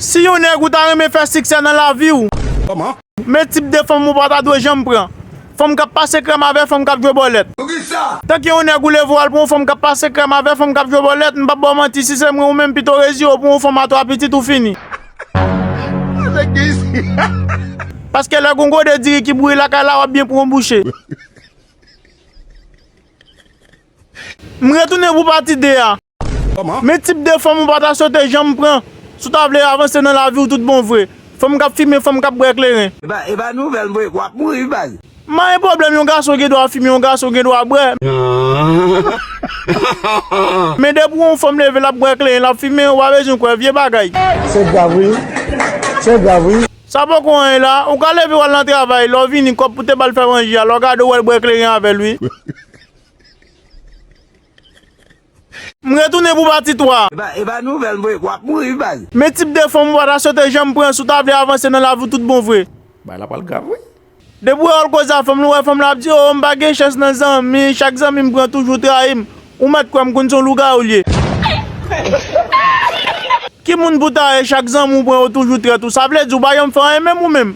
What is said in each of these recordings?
Si yon nèg ou ta renmen fè siksè nan lavi w, men tip de fanm ou pa ta dwe janm pran, Fanm k ap pase krèm avè fanm k ap jwe bòlèt. Tanke yon nèg ou leve w al pran yon fanm k ap pase krèm avè fanm k ap jwe bòlèt, m pa p ba w manti si se mwen ou menm pito w rezye w pran yon fanm a 3 pitit ou fini. Paske lè gon gode diri ki bouyi lakay la w ap byen pran yon bouche. M retounen pou pati 2 a. Men tip de fanm ou pa ta swete janm pran si w ta vle avanse nan lavi w tout bon vre. Fanm k ap fimen, fanm k ap bwè kleren. E pa nouvèl mwen, w ap mouri wi baz. Man e pwoblèm yon gason gen dwa fimen, yon gason gen dwa bwè. Men depi w wè yon fanm leve l ap bwè kleren, l ap fimen, ou pa bezwen kwè, vye bagay. Se grav wi, se grav wi. Sa poko anyen la, ou ka leve w al nan travay, lè w vini kòb pou te ba l fè manje a, lè w gade w wè l bwè kleren avè l wi. M retounen pou pati 3. Epa nouvel vre wap mouri wi baz. Men tip de fanm ou pa ta swete janm pran si w ta vle avanse nan lavi w tout bon vre. Bagay la pral grav wi. Depi ou wè wòl koze a fanm lan ou wè fanm lan ap di oo m pa gen chans nan zanmi chak zanmi m pran toujou trayi m ou mèt kwè m konn son lougawou l ye. Ki moun pou ta ye chak zanmi ou pran yo toujou trèt ou sa vle di ou pa janm fè anyen menm ou menm.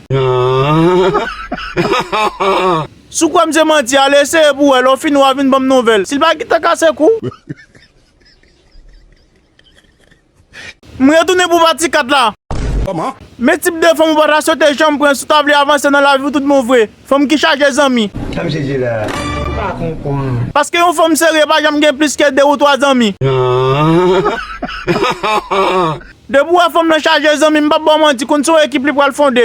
Si w kwè m se manti, ale eseye pou w wè. Lè w fini w a vin ban m nouvèl. Si l pa gentan kase kou. M retounen pou pati 4 la. Men tip de fanm ou pa ta swete janm pran si w ta vle avanse nan lavi w tout bon vre. Fanm ki chaje zanmi. Paske yon fanm serye pa janm gen plis ke 2 ou 3 zanmi. De bwa fanm nan chaje zanmi m pap baw manti konn se yon ekip li pral fonde.